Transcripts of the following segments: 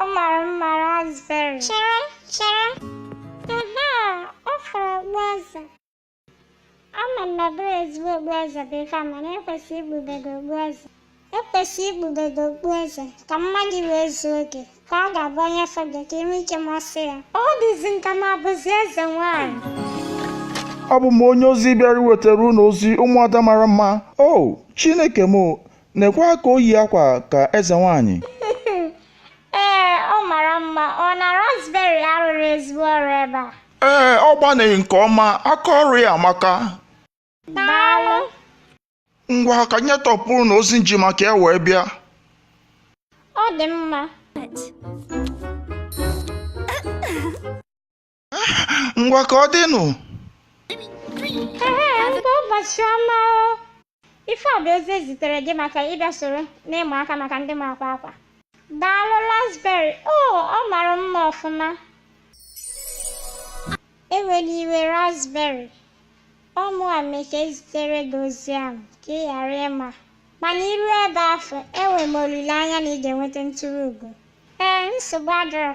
ọ mara mma raspberry chere chere aha ọ fọrọ okpueze ama m na ọ bụrọ ezigbo okpueze bụ ife a mana ekwesị ikpube gị okpueze ekwesị ikpube gị okpueze ka mma gị wee zuo oke ka ọ ga-abụ onye fụ gị ka i nwee ike masị ya ọ dịzi m ka m abụzi eze nwaanyị abụ m onye ozi bịara iwetara unu ozi ụmụada mara mma o chineke m Nekwa ka o yi akwa ka eze nwaanyị. Ee, ọ mara mma. Ọ na raspberry arụrụ ezigbo ọrụ ebe a. Ee, ọ gbanịrị nke ọma, aka ọrụ ya amaka. Daalụ. Ngwa ka anyị tọpụrụ na ozi m ji maka ya wee bịa. Ọ dị mma. ngwa ka ọ dịnụ Ee, nwee ụbọchị ọma o. Ife a bụ ozi ezitere gị maka ịbịa soro n'ịma aka maka ndị ma akwa akwa. Daalụ Raspberry. O, ọ mara mma ọfụma. Ewela iwe Raspberry. Ọ mụwa mee ka ezitere gị ozi ahụ ka ị ghara ịma. Mana i ru ebe afụ, enwe m olileanya na ị ga-enweta nturu ugo. Ee, nsogbu adịrọ.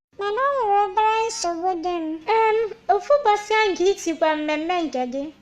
Mana o nwere obere nsogbu dị m. Ee, ofu ụbọchị ahụ ka i tikwa mmemme nke gị,